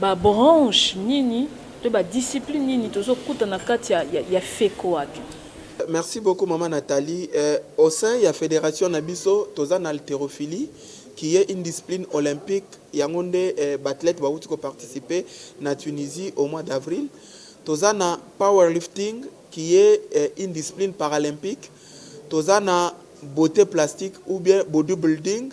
Ba branches nini to ba disciplines nini tozo kuta na kati ya ya fecoac? Merci beaucoup maman Nathalie eh, au sein ya federation na biso toza na halterophilie qui est une discipline olympique yango nde eh, ba athlètes bawuti ko participer na Tunisie au mois d'avril. Toza na powerlifting qui est eh, une discipline paralympique. Toza na beaute plastique ou bien bodybuilding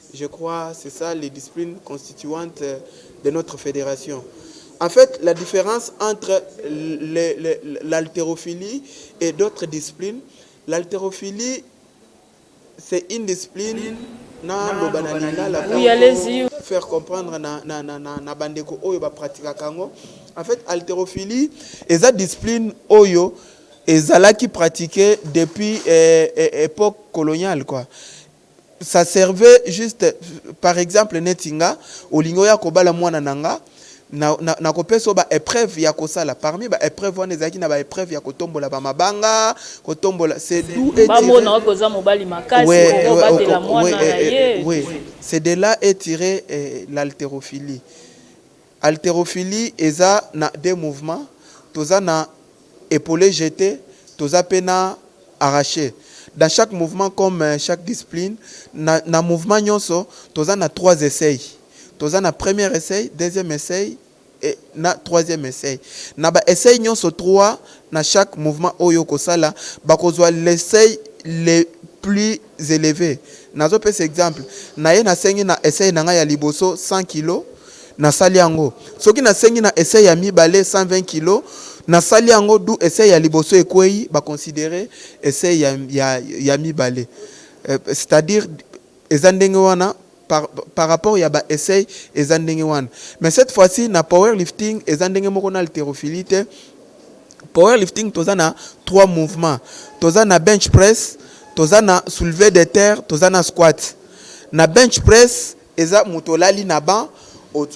Je crois c'est ça les disciplines constituantes de notre federation en faite la difference entre l'halterophilie et d'autres disciplines l'halterophilie c'est une discipline na loba na lingala faire comprendre na, na, na, na, na bandeko oyo bapratikaka yango en fait halterophilie eza discipline oyo ezalaki pratique depuis eh, eh, époque coloniale quoi ça servait juste par exemple neti nga olingi oya kobala mwana na nga na nako pesa yo ba epreuves ya kosala parmi ba epreuves wana ezalaki na ba epreuves ya kotombola ba mabanga kotombola c'est d'où est tiré bamona oyo oza mobali makasi okobatela mwana na ye oui c'est de là est tiré l'haltérophilie Halterophilie eza na deux mouvements, toza na epaule jete, toza pe na arrache. Dans chaque mouvement comme chaque discipline, na na mouvement nionso toza na trois essais. Toza na premier essai, deuxième essai et na troisième essai. Na ba essais nionso trois, na chaque mouvement oyo oko sala, bako zua l'essai le plus eleve nazo pesa exemple naye na sengi na essai na nga ya liboso 100 kilos na sali yango soki na sengi na essai ya mibale 120 kilos na sali yango d'où essai ya liboso ekweyi ba considere essai ya ya ya mibale c'est à dire eza ndenge wana par par rapport ya ba essai eza ndenge wana mais cette fois ci na power lifting eza ndenge moko na halterophilie te power lifting toza na trois mouvements toza na bench press toza na soulever de terre toza na squat na bench press eza moto olali na banc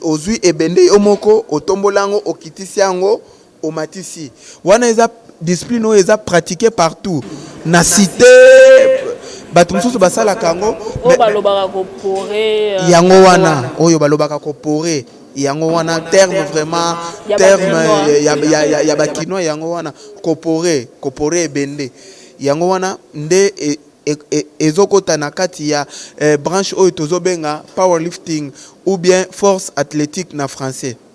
ozwi ebende yo moko otombola yango okitisi yango Omatisi wana eza discipline oyo eza pratique partout na cite bato mosusu basalaka yango euh, yango wana oyo balobaka kopore yango wana terme vraiment terme ya bakinois yango wana kopore kopore ebende yango wana nde e, e, e, ezokota na kati ya eh, branche oyo tozobenga powerlifting ou bien force athlétique na français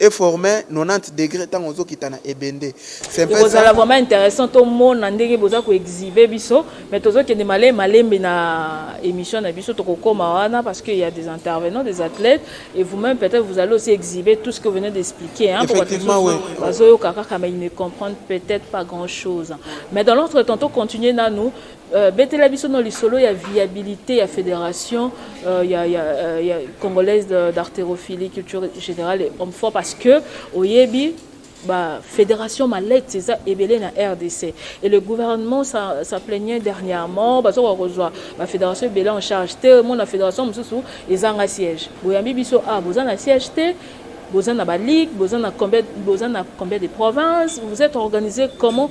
E former 90 degres tango ozo kita na ebende. C'est un peu ça. Ekozala vraiment interessant to mona ndenge boza ko exhiber biso mais tozo kende male malembe na emission na biso toko koma wana parce qu'il y a des intervenants des athlètes et vous-même peut-être vous allez aussi exhiber tout ce que vous venez d'expliquer hein Effectivement, oui. bazo yoka kaka mais ils ne comprennent peut-être pas grand-chose. Mais dans l'autre temps to continuer nanu Euh, betela biso no lisolo ya viabilité ya fédération euh, ya, ya, euh, ya congolaise d'artérophilie culture générale et homme fort parce que oyebi bah, fédération malette c'est ça ebele na RDC et le gouvernement ça, ça plaignait dernièrement parce qu'on reçoit la fédération ebele en charge te mon la fédération mususu ezanga siège boyambi biso ah boza na siège te boza na ba ligue boza na combien boza na combien de provinces vous êtes organisé comment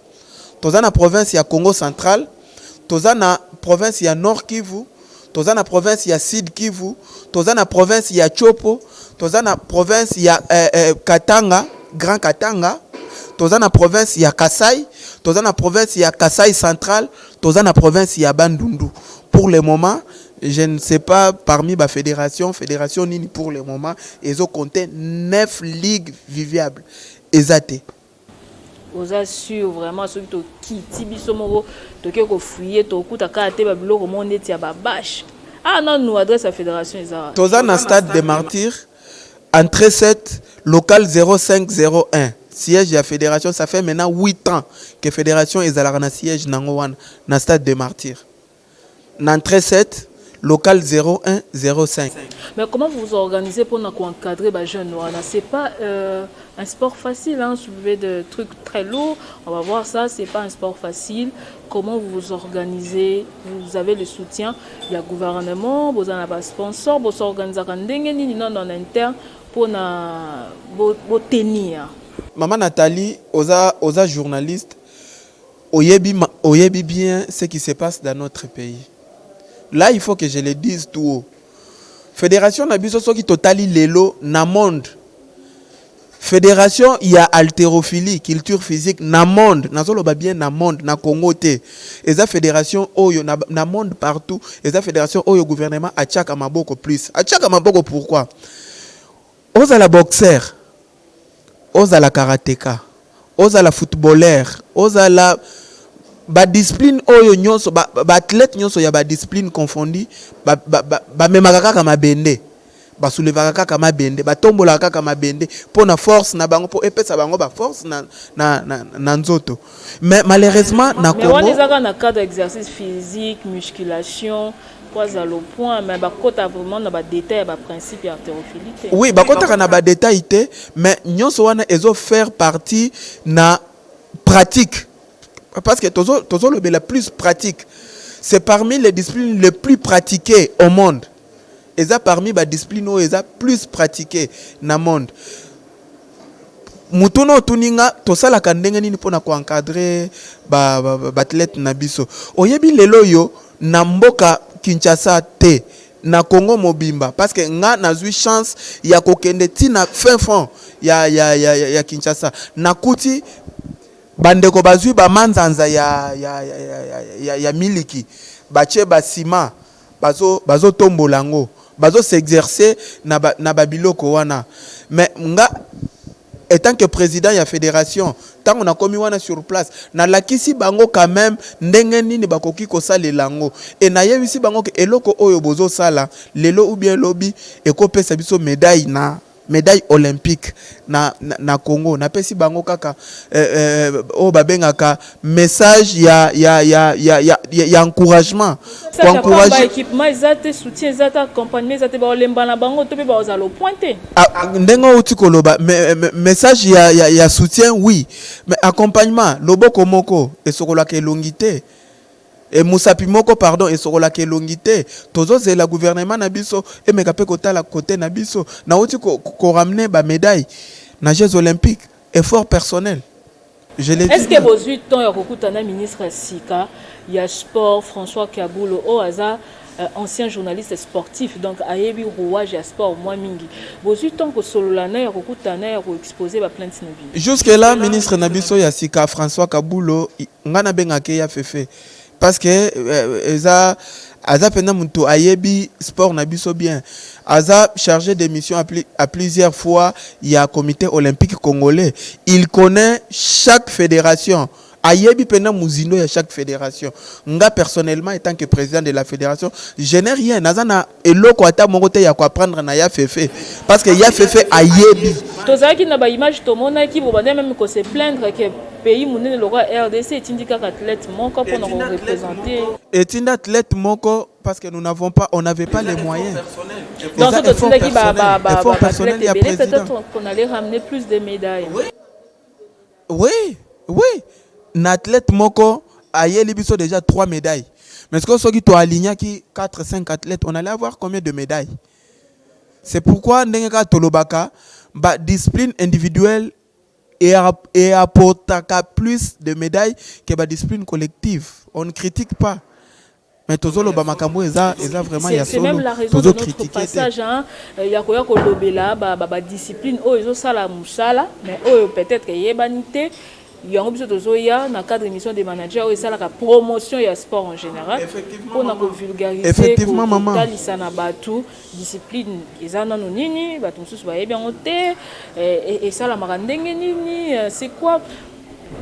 toza na province ya Kongo central, toza na province ya Nord Kivu, toza na province ya Sud Kivu, toza na province ya Tshopo, toza na province ya eh, eh, Katanga, Grand Katanga, toza na province ya Kasai, toza na province ya Kasai central, toza na province ya Bandundu. Pour le moment, je ne sais pas parmi ba fédération, fédération nini pour le moment ezo compter 9 ligues viviables. Eza te. Oza sur vraiment soki tokiti biso moko toke ko fouiller tokuta kaka te ba biloko moko ndeti ya ba bache awa nanu adresse ya federation eza wapi? Toza na stade de martyrs entree 7 local 0501 siège ya federation ça fait maintenant 8 ans que federation ezalaka na siège nango wana na stade de martyrs. Na entre 7 local 01 05. Mais comment vous vous organisez pona ko encadrer ba jeunes wana c'est pas euh, un sport facile hein soulever de trucs très lourds on va voir ça c'est pas un sport facile comment vous vous organisez vous avez le soutien ya gouvernement boza na ba sponsors bo s'organisaka ndenge nini nano en interne pona bo, bo tenir Maman Nathalie oza oza journaliste Oyebi oyebi bien ce qui se passe dans notre pays là il faut que je le dise tout haut federation na biso soki totali lelo na monde federation ya halterophilie culture physique na monde nazoloba bien na monde na Congo te eza federation oyo na, na monde partout eza federation oyo gouvernement atiaka maboko plus atiaka maboko pourquoi ozala boxer ozala karateka, ozala footballeur, ozala ba discipline oyo nionso ba athlete nionso ya ba discipline confondu ba memaka kaka mabende, ba soulevaka kaka mabende, ba tombolaka kaka mabende pona force na bango po epesa bango ba force na nzoto. Mais malheureusement na congo. Mais wana eza kaka na cadre exercice physique, musculation. Oui, bakotaka na ba détails te, mais nyonso wana ezo faire partie na pratique. Parce que tozo tozo lobela plus pratique. C'est parmi les disciplines les plus pratiquées au monde. eza parmi ba discipline oyo eza plus pratique na monde. Mutuna otuni nga tosalaka ndenge nini pona ko encadrer ba athlete na biso. Oyebi lelo oyo na mboka Kinshasa te na Congo mobimba parce que nga nazui chance ya kokende ti na fin fond ya, ya, ya, ya, ya Kinshasa nakuti bandeko bazwi bamanzanza ya, ya, ya, ya, ya, ya miliki batie basima bazo bazo tombola yango bazo s'exercer na ba na ba biloko wana mais nga etant que president ya federation ntango nakomi wana sur place nalakisi bango quand même ndenge nini bakoki kosalela yango e nayebisi bango ke eloko oyo bozosala lelo ou bien lobi ekopesa biso medaille na medaille olympique na na Congo na pesi bango kaka eh, eh, oyo babengaka message ya ya ya ya ya, ya encouragement ko encourager équipement eza te soutien eza te accompagnement eza te baolemba na bango to pe baoza lo point te ah, ah, ndenge outi koloba message ya, ya ya soutien oui mais accompagnement loboko moko esokolaka elongi te Eh musapi moko pardon esokolaka elongi te tozo zela gouvernement na biso emeka pe kotala cote na biso nawuti ko ramener ba medaille na jeux olympique effort personnel je le dis bien. euh, ancien journaliste sportif donc ayebi rouage ya sport mwa mingi bozwi ntango kosolola na ya kokutana na ya koexpose baplainte na bino jusque là ministre na biso ya sika françois kabulo ngai nabengaka ye ya fefe parce que euh, eza aza mpenza moto ayebi sport na biso bien aza chargé de mission à, pli, à plusieurs fois ya comité olympique congolais il connaît chaque fédération Ayebi penza mozindo ya chaque federation. Nga personnellement etant que president de la federation, je n'ai rien, naza na eloko ata moko te ya ko apprendre na Ya Fefe parce que Ya Fefe ayebi. Tozalaki na ba images tomonaki, bobandaki meme ko se plaindre que pays munene lokola rdc etindi kaka athlete moko pona ko representer. Etindi athlete moko parce que nous n'avons pas, on n'avait pas les moyens. Donc Eza soki effort totindaki ba ba personnel, ba ba effort ba personnel athlete ya ebele, president. peut-être qu'on allait ramener plus de medailles. Oui oui na athlète moko ayeli biso dejà trois medailles mais sikoyo soki to alignaki quatre cinq athlètes on allait avoir combien de medailles? C'est pourquoi ndenge kaka tolobaka ba disciplines individuelles e apportaka plus de medailles que ba disciplines collectives, on ne critique pas Mais tozo loba makambo eza eza vraiment ya solo. C'est même la raison de notre passage hein ya koya ko lobela ba ba, ba discipline oyo ezo sala musala mais oyo peut-être eyebani te. yango biso tozoya na cadre émission des managers oyo esalaka promotion ya sport en général mpo na kovulgarisekotalisa na bato discipline eza nano nini bato mosusu bayebi yango te eh, esalamaka ndenge nini eh, c'est quoi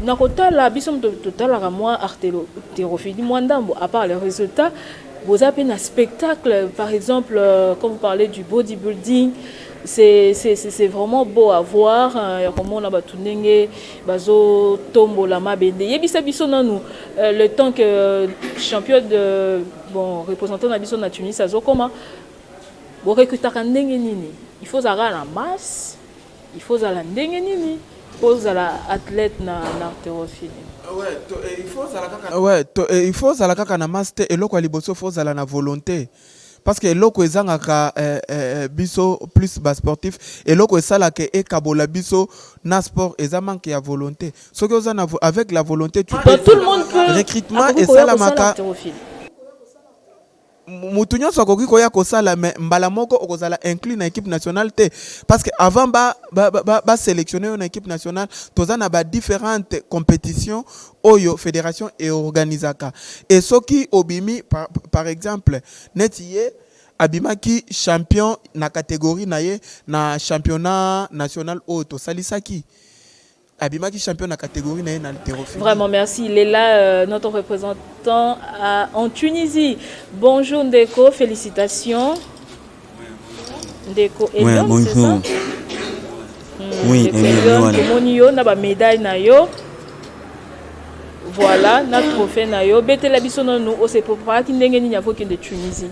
Na kotala biso moto totalaka mwa arterophilie mwa ndambo à part le résultat boza pe na spectacle par exemple euh, quand vous parlez du bodybuilding c'est c'est c'est vraiment beau à voir euh, ya komona bato ndenge bazotombola mabende yebisa biso nanu euh, le temps que champion de bon représentant na biso na tunis azokoma borekutaka ndenge nini il faut ozalaka na masse Il faut ozala ndenge nini po ozala athlète na na haltérophilie? Ouais to il faut ozala kaka ouais to il faut ozala kaka na masse te eloko ya liboso faut ozala na volonte parce que eloko ezangaka eh, eh, biso plus ba sportif eloko esalaka ekabola biso na sport eza manque ya volonté soki oza na avec la volonté tu peux tout le monde peut recrutement esalamaka Mutu nionso akoki koya kosala mais mbala moko okozala inclus na equipe nationale te parce que avant ba ba, ba, ba selectionner yo na equipe nationale toza na ba differentes competitions oyo federation e organisaka et soki obimi par, par exemple neti ye abimaki champion na catégorie na ye na championnat national oyo tosalisaki abimaki champion na categorie na ye na haltérophilie. Vraiment merci, il est là euh, notre représentant à, euh, en Tunisie. Bonjour Ndeko, félicitations. Ndeko Elion, ouais, bonjour. c'est ça hmm, Oui, Elion, tomoni yo na ba médaille na yo. Voilà, na trophée na yo. Betela biso nanu, o se préparaki ndenge nini akokende Tunisie.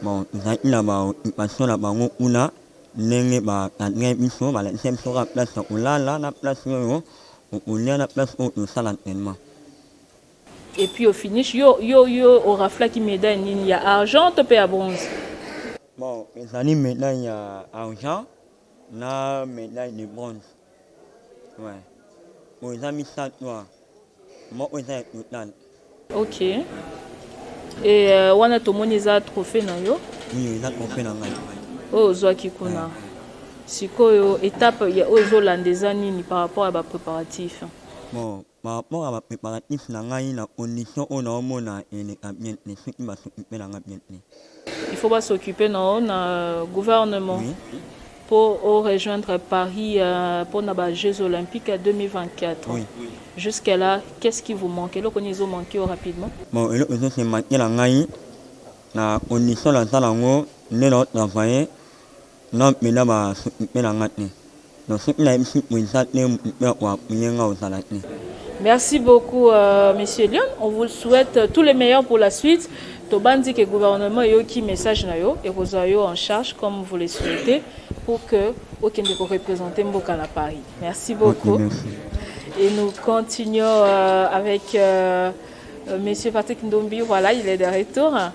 Tozalaki na ba occupation na bango kuna ndenge ba cadrer biso balakisa biso kaka place ya kolala na place oyo okolia na place oyo tosala entraînement. Et puis au finish, yo, yo, yo oraflaki medaille nini ya argent to pe ya bronze? Bon, ezali medaille ya argent na medaille de bronze. Ouais. Oyo eza misato wa. Moko eza ya total. OK. Et euh, wana tomoni eza trophée na yo. Oui, eza trophée na ngai. Oyo ozwaki kuna. Ouais. Sikoyo étape ya oyo ezolanda eza nini par rapport à ba préparatifs? Bon, Par rapport ya ba preparatifs na ngai na condition oyo nao mona eleka bien te soki ba s'occuper na nga bien te. Il faut ba s'occuper na yo na gouvernement po o rejoindre Paris pona ba jeux olympiques ya 2024. Jusque là qu'est ce qui vous manque? Eloko nini ezo manquer yo rapidement? Bon eloko ezo se manquer na ngai na condition naza nango nde nao travailler Nga mpenza ba sepela nga te. Na soki na yebisi president te mutu mpe ako appuyer nga ozala te. Merci beaucoup monsieur Lion on vous souhaite tout le meilleur pour la suite tobanzi que gouvernement eyoki message na yo ekozwa yo en charge comme vous le souhaitez pour que okende ko representer mboka na Paris merci beaucoup et nous continuons euh, avec euh, monsieur Patrick Ndombi voilà il est de retour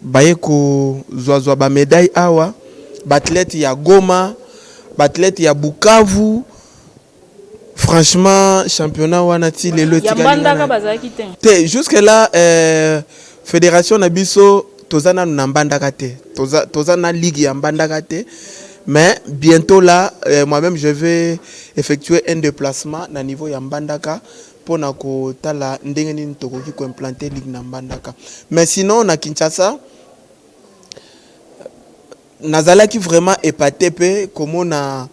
Baye ko zwa zwa ba medailles awa, b'athletes ya Goma, b'athletes ya Bukavu, franchement championnat wana ti lelo etikali nga na. Te, jusque là federation na biso toza nanu na Mbandaka te, toza na ligue ya Mbandaka te mais bientot là moi meme je vais effectuer un deplacement na niveau ya Mbandaka. mpo na kotala ndenge nini tokoki ko implanter ligue na Mbandaka mais sinon na Kinshasa nazalaki vraiment epate mpe komona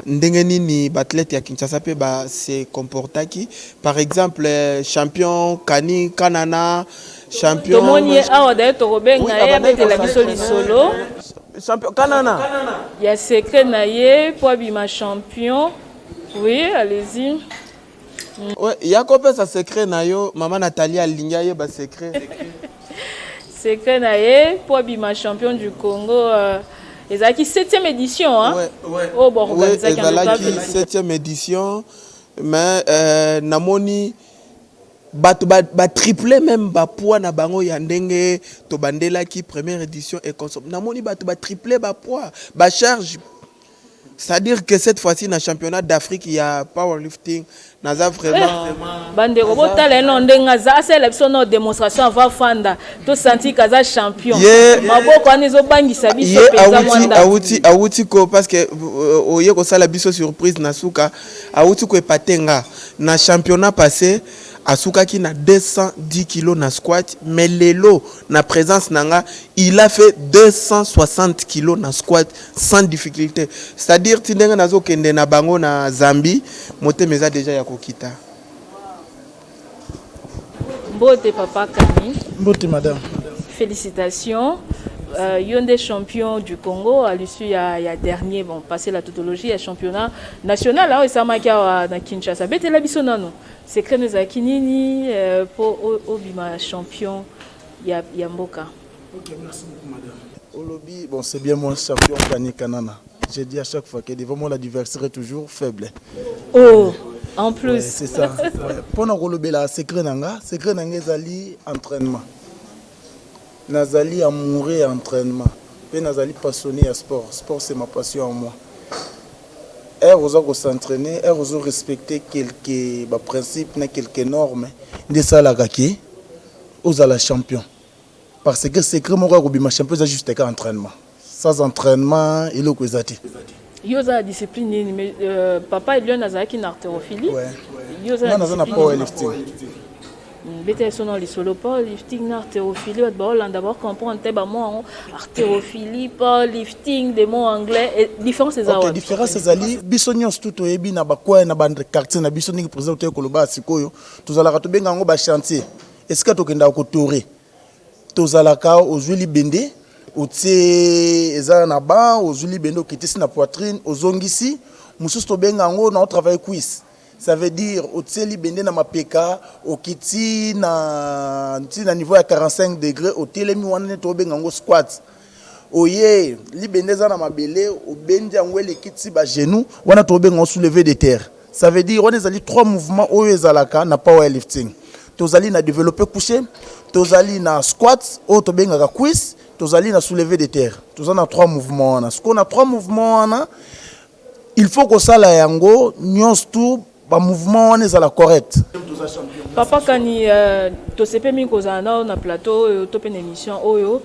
ndenge nini ba athlètes ya Kinshasa mpe ba se comportaki par exemple champion Kani Kanana champion tomoni ye awa d'ailleurs tokobenga ye abetela biso lisolo champion Kanana ya secret na ye mpo abima champion oui allez-y ya kopesa secret na yo mama natali alingi ayeba secret secret na ye mpo abima champion du congo euh, ezalaki 7e édition oyo boorganisakiezalaki 7e édition mais euh, namoni bato batriple ba meme bapoids na bango ya ndenge tobandelaki première édition econsom namoni bato batriple bapoids bacharge C'est-à-dire que cette fois-ci na championnat d'Afrique ya powerlifting naza vraiment eh, bandeko botala eno ndenge aza asala biso no démonstration avant fanda to sentir kaza champion maboko wana ezobangisa biso mpenza mwanda awuti awuti ko parce que euh, oye kosala biso surprise na suka awuti ko epate nga na championnat passé asukaki na 210 kilo na squat mais lelo na présence na nga il a fait 260 kilo na squat sans difficulté c'est à dire ti ndenge nazokende na bango na zambie motema eza deja ya kokita mbote papa kani mbote madame félicitations euh, yo nde champion du congo à l'issue ya, ya dernier bon passé la tautologie ya championnat national oyo esamaki awa na kinshasa betela biso nano secret no ezalaki nini euh, mpo obima champion ya, ya mboka Ok, merci beaucoup madame. Olobi, bon c'est bien moi champion Fanny Kanana. J'ai dit à chaque fois que devant moi l'adversaire est toujours faible. Oh, en plus. Ouais, c'est ça. Ouais. Pona kolobela secret nanga, secret nanga ezali entraînement. Nazali amoureux ya entraînement. Pe nazali passionné ya sport. Sport c'est ma passion en moi. Heure oza ko s'entraîner, heure ozo respecter quelques ba principes na quelques normes nde salaka ke ozala champion. Parce que secret moko ya kobima champion eza juste ka entraînement. Sans entraînement eloko eza te. Yo oza na discipline nini mais euh, papa Elion azalaki na artérophilie. Ouais. Yo oza na discipline. Nga na power lifting. Mm, beta ye sono lisolo power lifting na artérophilie bato baolanda bacomprendre te bamo yango artérophilie power lifting de mot anglais eh, différence eza okay, différence ezali biso nyonso tu toyebi na bakwaya na baquartier na biso ndenge président toye koloba sikoyo tozalaka tobenga yango bachantier esika tokendaka kotore tozalaka ozwi libende otie eza na ban ozwi libende okitisi na poitrine ozongisi mosusu tobenga yango na otravaille cuisse ça veut dire otie libende na mapeka okiti na ntina niveau ya 45 degre otelemi wana nde tobenga yango squat Oyee libende eza na mabele obendi yango eleki ti ba genoux wana tobenga ngo souleve de terre ça veut dire wana ezali trois mouvements oyo ezalaka na power lifting tozali na developpe couche tozali na squat oyo tobengaka cuisse tozali na souleve de terre toza na trois mouvements wana sikoyo na trois mouvements wana Il faut kosala yango nyonso tout ba mouvement wana ezala correct. Papa kani euh, tosepe mingi kozala nao na plateau oyo to mpe na émission oyo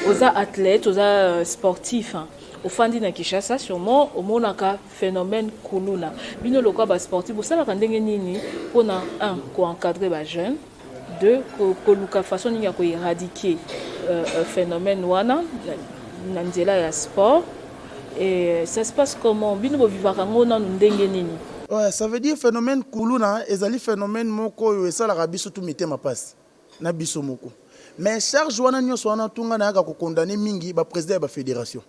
oza athlète oza euh, sportif hein. ofandi na kinshasa sûrement omonaka phénomène kuluna bino lokola basportif bosalaka ndenge nini mpona un koencadre bajeune de koluka façon nini ya ko éradiquer euh, euh, phénomène wana na nzela ya sport et euh, ça se passe comment bino bovivaka ngo nanu ndenge nini Ouais, ça veut dire phénomène kuluna ezali phénomène moko oyo esalaka biso tu mitema pasi na biso moko mais charge wana nyonso wana tunga nayaka kokondane mingi baprésident ya bafédération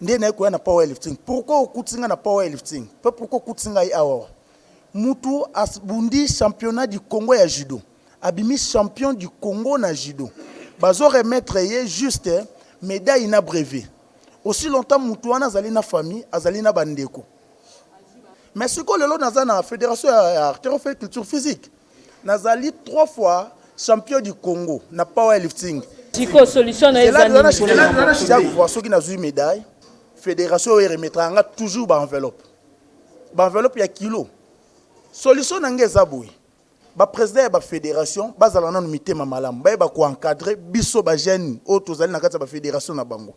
nde naye koya na power lifting pourquoi okutisi ngai na power lifting pe pourquoi okutisi ngai awa mutu abundi championnat du congo ya judo abimi champion du congo na judo bazo remettre ye juste medaille na brevet aussi longtemps mutu wana azali na famille azali na bandeko mais siko lelo naza na federation ya artero fe culture physique Nazali trois fois champion du Congo na power lifting. Siko solution na eza nini? Chaque fois soki nazui medaille, fédération oyo remettra nga toujours ba enveloppe. Ba enveloppe ya kilo. Solution na nga eza boye. Ba président ya ba fédération bazala nanu mitema malamu. Baye ba ko encadrer biso ba jeunes oyo tozali na kati ya ba fédération na bango.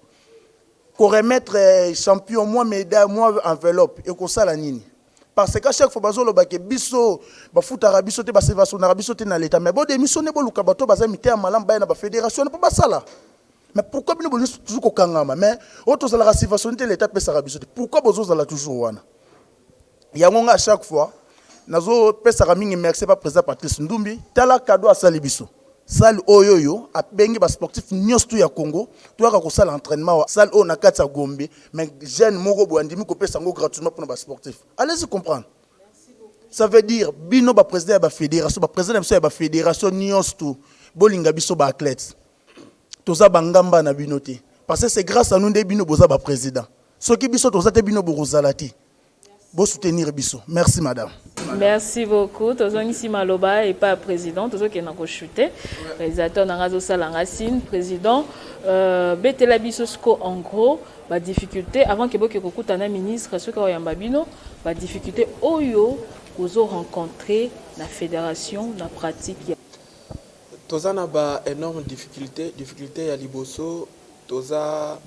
Ko remettre euh, champion moi medaille moi enveloppe ekosala nini? parce que chaque fois bazo loba ke biso bafutaka biso te basevasonaka biso te na leta mais bo démissionner boluka bato oyo baza miteya malamu baya na ba federation wana mpo basala mais pourquoi bino bolingi toujours kokangama mais oyo tozalaka sivasoni te leta apesaka biso te pourquoi bozozala toujours wana yango nga chaque fois nazopesaka mingi merci pa président patrice ndumbi tala kado asali biso Salle oyo oyo abengi ba sportif nionso tout ya Congo toyaka kosala entrainement awa salle oyo na kati ya Gombe mais jeune moko boye andimi kopesa yango gratuitement pona ba sportif allez y comprendre ça veut dire bino ba president ya ba federation ba president na biso ya ba federation nionso tout bolinga biso ba athlète toza ba ngamba na bino te parce c'est grace à nous nde bino boza ba president soki biso toza te bino bokozala te. Bo soutenir biso. Merci madame. Merci beaucoup tozongisi maloba epa ya president tozokende na koshute realisateur na ngai azosala nga sine president euh, betela biso siko en gros badifficulté avant ke boke kokuta na ministre soki akoyamba bino badifficulté oyo kozo rencontre na fédération na pratique ya Toza na ba enormes difficultes, difficulte ya liboso toza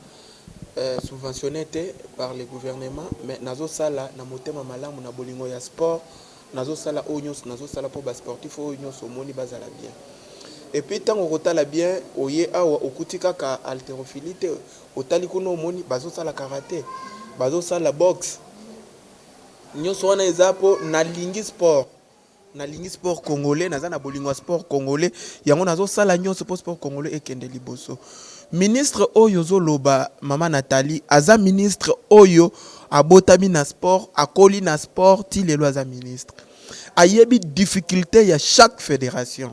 subventionne te par le gouvernement mais nazo sala na motema malamu na bolingo ya sport nazo sala oyo nionso nazo sala po ba sportifs oyo nionso omoni bazala bien et puis tango okotala bien oye awa okuti kaka halterophilie te otali kuna omoni bazo sala karate bazo sala boxe nionso wana eza po nalingi sport Nalingi sport congolais, naza na bolingo ya sport congolais, yango nazo sala nionso po sport congolais ekende liboso. Ministre oyo ozo loba mama Nathalie aza ministre oyo abotami na sport, akoli na sport ti lelo aza ministre. Ayebi difficulte ya chaque federation.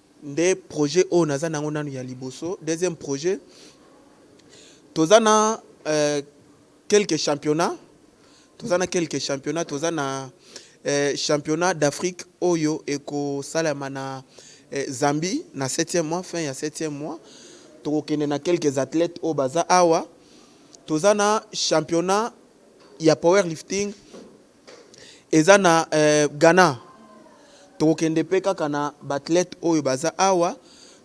Nde projet oyo naza nango nanu ya liboso. Deuxième projet toza na quelques championnats, toza na quelques championnats, toza na championnat d'Afrique oyo eko salema na Zambie na septième mois, fin ya septième mois. Toko kende na quelques athlètes oyo baza awa. Toza na championnat ya powerlifting. Eza na Ghana tokokende pe kaka na ba athlètes oyo baza awa.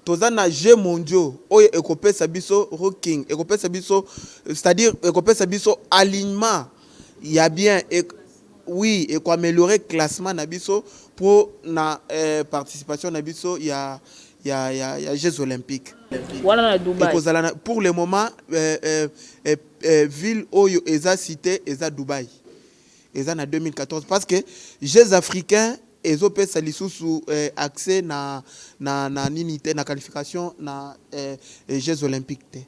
Toza na jeux mondiaux oyo ekopesa biso rocking ekopesa biso c'est à dire ekopesa biso alignement ya bien et oui et ko ameliorer classement na biso po na participation na biso ya ya ya jeux olympiques wana na Dubaï ekozala pour le moment. Eh ville oyo eza cite eza Dubaï eza na 2014 parce que jeux africains ezo pesa lisusu eh, accès na na na nini te na qualification na eh, eh, jeux olympiques te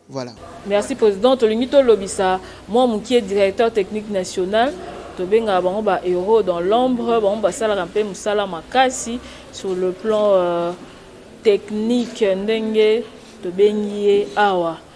voilà merci président tolingi tolobisa mwa mokie directeur technique national tobengaka bango ba héros dans l'ombre bango basalaka mpe mosala makasi sur le plan euh, technique ndenge tobengi ye awa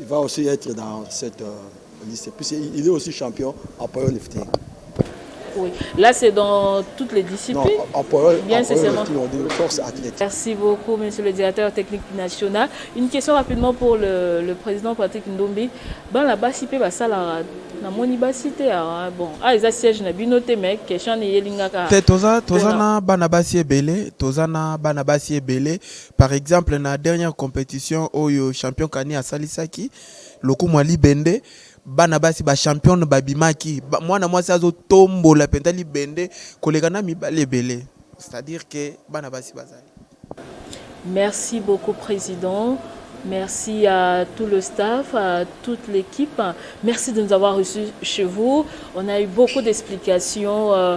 Il va aussi être dans cette euh, liste. Puis il est aussi champion en powerlifting. Oui. Là, c'est dans toutes les disciplines. Non, en power, Bien, c'est seulement. Force athlète. Merci beaucoup, monsieur le directeur technique national. Une question rapidement pour le, le président Patrick Ndombi. Dans la bas IP, bah, ça, la, na moni basi te awa bon ah eza siège na bino te mais question eyelingaka te toza toza na bana basi ebele toza na bana basi ebele Par exemple na dernière competition oyo champion Kani asalisaki lokumu ya libende bana basi ba championne babimaki ba, mwana mwasi azotombola mpenza libende koleka na mibali ebele c'est à dire que bana basi bazali Merci beaucoup, Président. Merci à tout le staff, à toute l'équipe. Merci de nous avoir reçus chez vous. On a eu beaucoup d'explications. euh,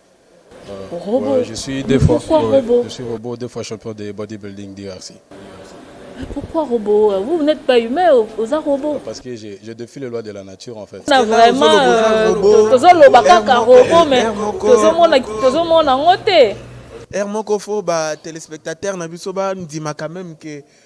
Robot. Ouais, je suis deux fois. Pourquoi ouais, robot Je suis robot, deux fois champion de bodybuilding DRC. Pourquoi robot Vous n'êtes pas humain, vous êtes robot. Parce que je, je défie les lois de la nature en fait. Non, vraiment, tozoloba kaka robot, mais tozomona yango te. Air moko fo ba téléspectateurs na biso ba ndima quand même que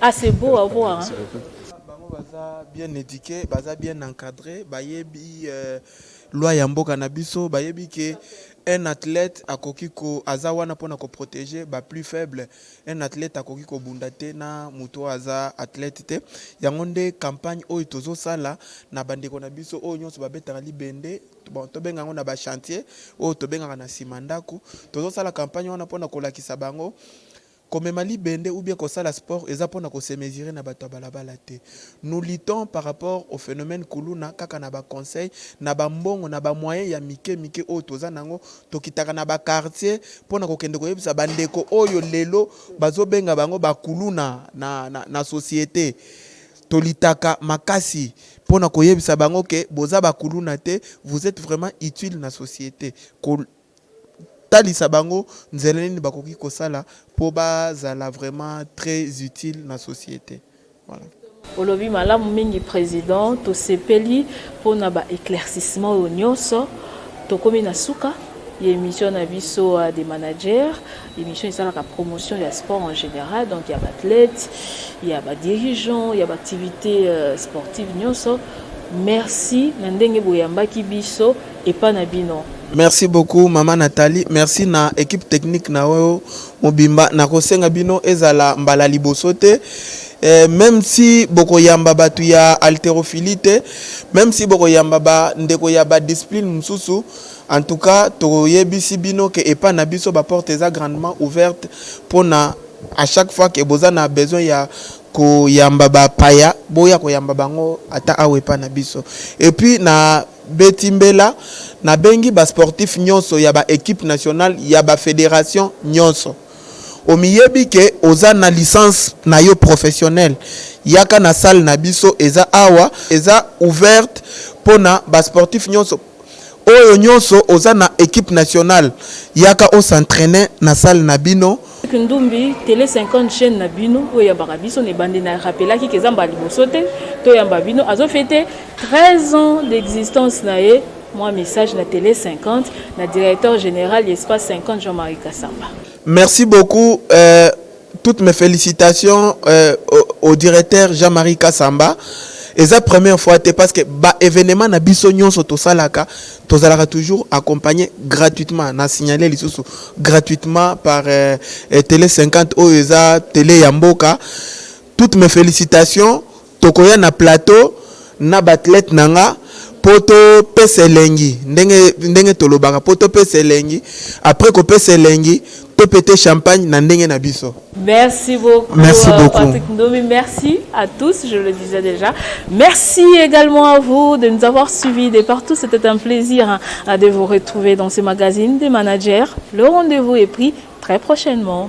Ah c'est beau à voir hein. Bango baza bien eduque, baza bien encadre, bayebi loi ya mboka na biso, bayebi ke un athlete akoki ko aza wana pona ko proteger ba plus faible. Un athlete akoki kobunda te na mutu oyo aza athlete te. Yango nde campagne oyo tozosala na bandeko na biso oyo nionso babetaka libende, bon tobenga yango na ba chantier oyo tobengaka na sima ndaku, tozosala campagne wana pona kolakisa bango Komema libende ou bien kosala sport eza pona ko se mesure na batu ya balabala te. Nous luttons par rapport au phenomène kuluna kaka na ba conseil, na ba mbongo, na ba moyens ya mike mike oyo toza nango. Tokitaka na ba quartiers pona kokende koyebisa ba ndeko oyo lelo bazo benga bango ba kuluna na na societe. Tolitaka makasi pona koyebisa bango que boza ba kuluna te, vous etes vraiment utile na societe. kotalisa bango nzela nini bakoki kosala po bazala vraiment très utile na societe. Voilà. Olobi malamu mingi president tosepeli pona ba eclaircissement oyo nioso tokomi na suka ya emission na biso des managers. Emission esalaka promotion ya sport en general, donc ya baathlète, ya badirigeant, ya baactivité euh, sportive nyonso. Merci na ndenge boyambaki biso epa na bino. Merci beaucoup mama Nathalie, merci na équipe technique na oyo mobimba. Nakosenga bino ezala mbala liboso te eh, même si bokoyamba bato ya haltérophilie te, même si bokoyamba bandeko ya badiscipline mosusu En tout cas toyebisi bino ke epa na biso ba porte eza grandement ouverte pona a chaque fois ke boza na besoin ya koyamba ba paya boya koyamba bango ata awa epa na biso et puis na beti mbela na bengi ba sportif nionso ya ba equipe nationale ya ba federation nionso omiyebi ke oza na licence na yo professionnel yaka na salle na biso eza awa eza ouverte pona ba sportif nionso Oyo nionso oza na equipe nationale yaka o s'entrainer na salle na bino. Kindumbi tele 50 chaine na bino oyo eyambaka biso na ebandeli na rappelaki que eza mbala liboso te toyamba bino azo fete 13 ans d'existence na ye mwa message na tele 50 na directeur general ya espace 50 Jean Marie Kasamba. Merci beaucoup euh. Toutes mes felicitations euh, au, au directeur Jean-Marie Kassamba. eza première fois te parce que ba événement na biso nyonso tosalaka tozalaka toujours accompagné gratuitement na signalé lisusu gratuitement par euh, euh télé 50 oyo eza télé ya mboka toutes mes félicitations Tokoya na plateau na ba athlètes na nga po to pesa elengi ndenge ndenge tolobaka po to pesa elengi après ko pesa elengi to peter champagne na ndenge na biso. Merci beaucoup, merci euh, beaucoup. Patrick Ndomi. Merci à tous, je le disais déjà. Merci également à vous de nous avoir suivis de partout. C'était un plaisir hein, de vous retrouver dans ce magazine des managers. Le rendez-vous est pris très prochainement.